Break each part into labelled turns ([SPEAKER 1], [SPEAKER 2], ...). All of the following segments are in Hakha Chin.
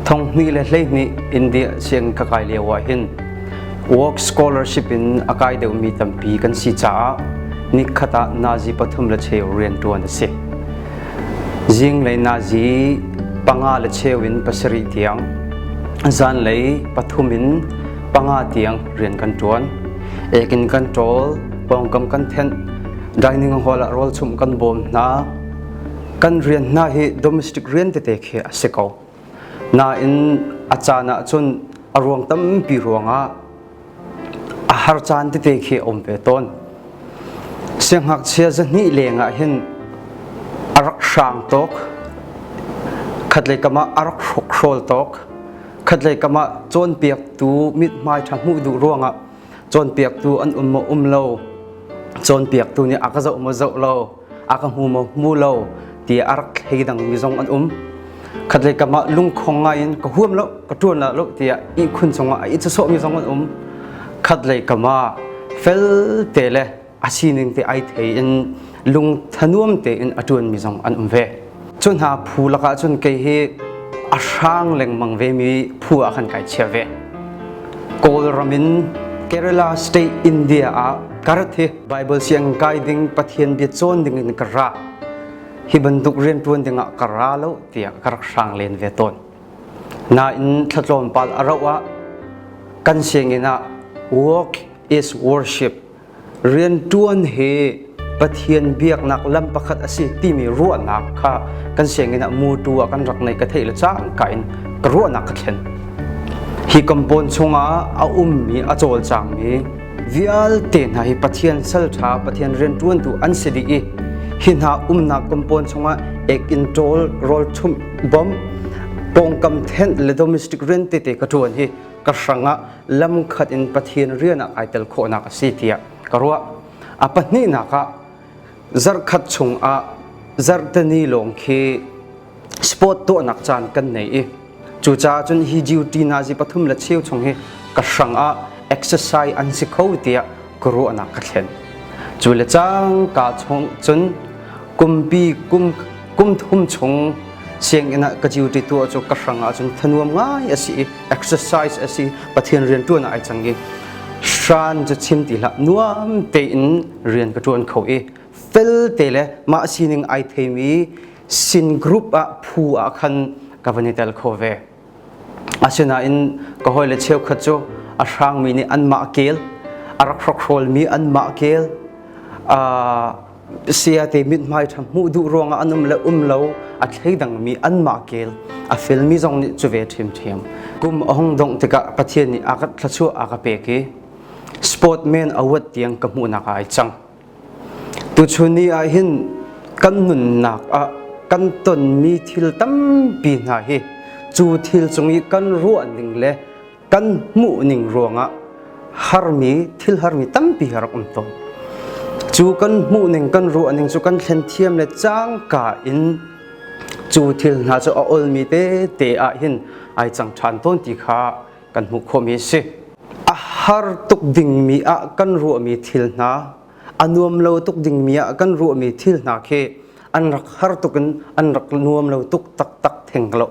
[SPEAKER 1] Thong hnih le hleihnih India siang ka kai lio ah hin work scholarship in a kai deuhmi tampi kan si caah nikhat ah Nazi pathum le cheu rianṭuan a si. Zing le Nazi panga le cheu in pasarih tiang zanlei pathum in panga tiang rian kan ṭuan. Ekin kan ṭawl, pawngkam kan thenh, dining hall ah rawl chumh kan bawm hna, kan rian hna hi domestic rian tete khi a si ko nain a caan ah cun a ruang tampi ruangah a har caan tete khi a um ve tawn sianghngakchia zahnih lengah hin a rak hrang tok khatlei kamah a rak hrawkhrol tok khatlei kamah cawnpiaktu mithmai ṭha hmuh duh ruangah cawnpiaktu an um maw um lo cawnpiaktu nih a ka zoh maw zoh lo a ka hmu maw hmu lo tiah a rak hlei dangmi zong an um khatlei kamah lungkhong ngaiin ka huam lo ka ṭuan la lo tiah ihkhun chungah a it sawhmi zong an um khatlei kamah felte le a sining te ai thei in lung thanuam tein a ṭuanmi zong an um ve cu hna phu lakah cun kei hi a hrang lengmang vemi phu ah khan kai chia ve kawl ramin Kerala state India ah karate Baibal siang kai ding Pathian bia cawn ding in ka ra. Hi bantuk rian ṭuan ding ah ka ra lo tiah ka rak hrang len ve tawn. Nain thlatlawm pal a rauh ah kan sianginn ah walk is worship rian ṭuan hi Pathian biaknak lam pakhat a si timi ruahnak kha kan sianginn ah mutu ah kan rak nei ka theih le cang ka in ka ruahnak ka thlen hi compound chungah a ummi a cawlcangmi Vialte hna hi Pathian salṭha, Pathian rianṭuantu an si dih i hi hna umnak kum pawn chungah ek in ṭawl rawlṭhumh bom pawngkam thenh le domestic rian tete ka ṭuan hi ka hrangah lamkhat in Pathian rian ah kai tel khawhnak a si tiah ka ruah. A pahnihnak ah zarhkhat chungah zarhteni lawng khi sport tuahnak caan kan nei i cucaah cun hi duty nazi pathum le cheu chung hi ka hrang ah exercise an si kho tiah ka ruahnak ka thlen cu le cang ka chung cun kumpi kum kum thum chung sianginn ah ka duty tuah cu ka hrang ah cun thanuam ngai asi i exercise asi pathian rian tuan ai chang i shan chu chim ti hlah nuam tein rian ka ṭuan kho i felte le mah sining ai theimi sin group ah phu ah khan ka van i tel kho ve asinain ka hawile cheukhat cu a hrangmi nih anmah kel a rak hrokhrawlmi anmah kel siate mithmai ṭha hmuh duh ruangah an um le um lo a thleidangmi anmah kel a felmi zong nih cu ve ṭhimṭhim kum a hung dongh tikah Pathian nih a ka thlachuah a ka pek i sportman award tiang ka hmuhnak ah ai cang tuchun ni ah hin kan nunnak ah kan tonmi thil tampi hna hi cu thil cung i kan ruah ning le kan hmuh ning ruangah harmi thil harmi tampi har um tawn cu kan hmuh ning kan ruah ning cu kan thlen thiam le cangka in cu thil hna cu a olmi te te ah hin ai chang ṭhan tawn ti kha kan hmuh khawhmi si. A har tuk dingmi ah kan ruahmi thil hna, a nuam lo tuk dingmi ah kan ruahmi thil hna khi an rak har tuk in an rak nuam lo tuk taktak theng lo.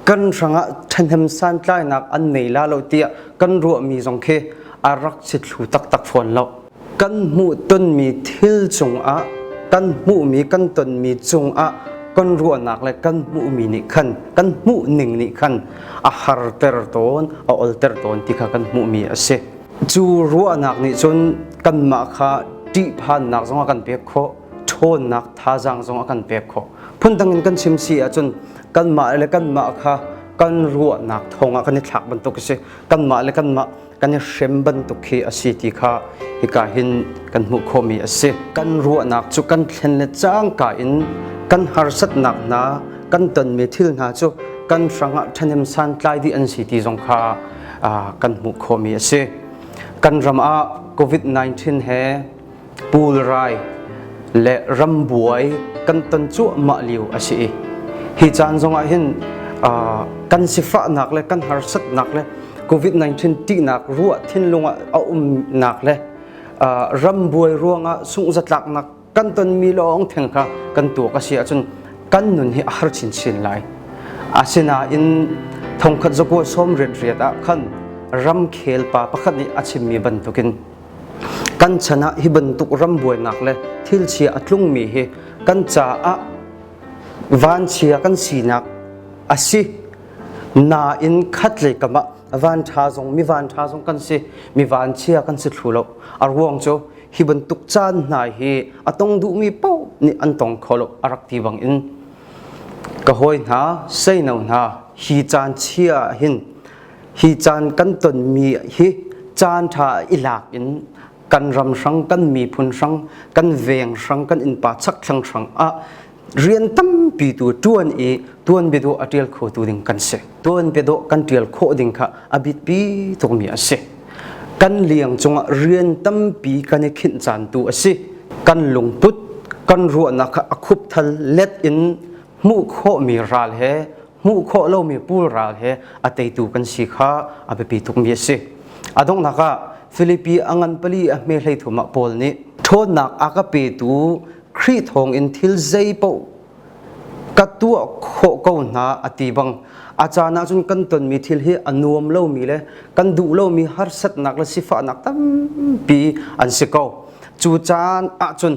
[SPEAKER 1] Kan hrangah ṭhahnem santlainak an nei la lo tiah kan ruahmi zong khi a rak si thlu taktak fawn lo. kan hmuhtonmi thil cungah kan hmuhmi kan tonmi cungah kan ruahnak le kan hmuhmi nih khan kan hmuhning nih khan a harter tawn a olter tawn ti kha kan hmuhmi a si cu ruahnak nih cun kanmah kha ṭihphannak zong a kan pek khawh ṭhawnnak thazaang zong a kan pek khawh phundang in kan chim si ahcun kanmah le kanmah kha kan ruahnak thawngah kan i thlak bantuk a si kanmah le kanmah kan i hrem bantuk khi a si ti kha hika hin kan hmuh khawhmi a si kan ruahnak cu kan thlen le cangka in kan harsatnak hna kan tonmi thil hna cu kan hrangah ṭhahnem santlai dih an si ti zong kha kan hmuh khawhmi a si kan ram ah covid-19 he pulrai le rambuai kan ton cuahmah lio a si i hi caan zongah hin kan sifahnak le kan harsatnak le covid-19 tihnak ruah thinlungah a umnak le rambuai ruangah sungzatlaknak kan tonmi lawng theng kha kan tuak a si ahcun kan nun hi a har chinchin lai asinain thongkhat zakua sawm riat riat ah khan ramkhel pa pakhat nih a chimmi bantukin Kan chan ah hi bantuk rambuainak le thilchia a tlungmi hi kan caah vanchia kan sinak a si. Nain khat le kam ah vanṭha zong mi vanṭha zong kan si mi vanchia kan si thlu lo a ruang cu hi bantuk caan hna hi a tong duhmi paoh nih an tong kho lo a rak ti bang in ka hawi hna seino hna hi caan chia hin hi caan kan tonmi hi caan ṭha i lak in kan ram hrang kan miphun hrang kan veng hrang kan innpa chak thlang hrang ah rian tampi tu tuan i tuan bedo a ṭial kho tu ding kan si tuan bedo kan ṭial khawh ding kha a bit pi tukmi a si kan liang cungah rian tampi kan i khinh caan tu a si kan lungput kan ruahnak a khup thal let in hmuh khawhmi ral he hmuh khawh lomi pulral he a teitu kan si kha a biapi tukmi a si. A donghnak ah Filipi a ngan pali a hme hlei thum ah Paul nih ṭhawnnak a ka petu Khrih thawngin thil zei paoh ka tuah khawh ko hna a ti bang a caan ahcun kan tonmi thil hi a nuam lomi le kan duh lomi harsatnak le sifahnak tampi an si ko. Cu caan ahcun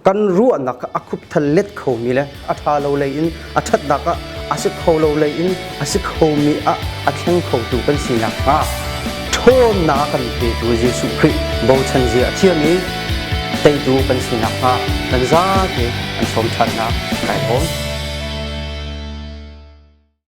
[SPEAKER 1] kan ruahnak a khupthal let khomi le a ṭha lo lei in a ṭhatnak ah a si kho lo lei in a si khomi ah a thleng khotu kan si nakhnga ṭhawnnak kan petu Jesuh Khrih bochan zia a thiam i teitu kan si nakhnga kan zate an sawm ṭhatnak kai awm.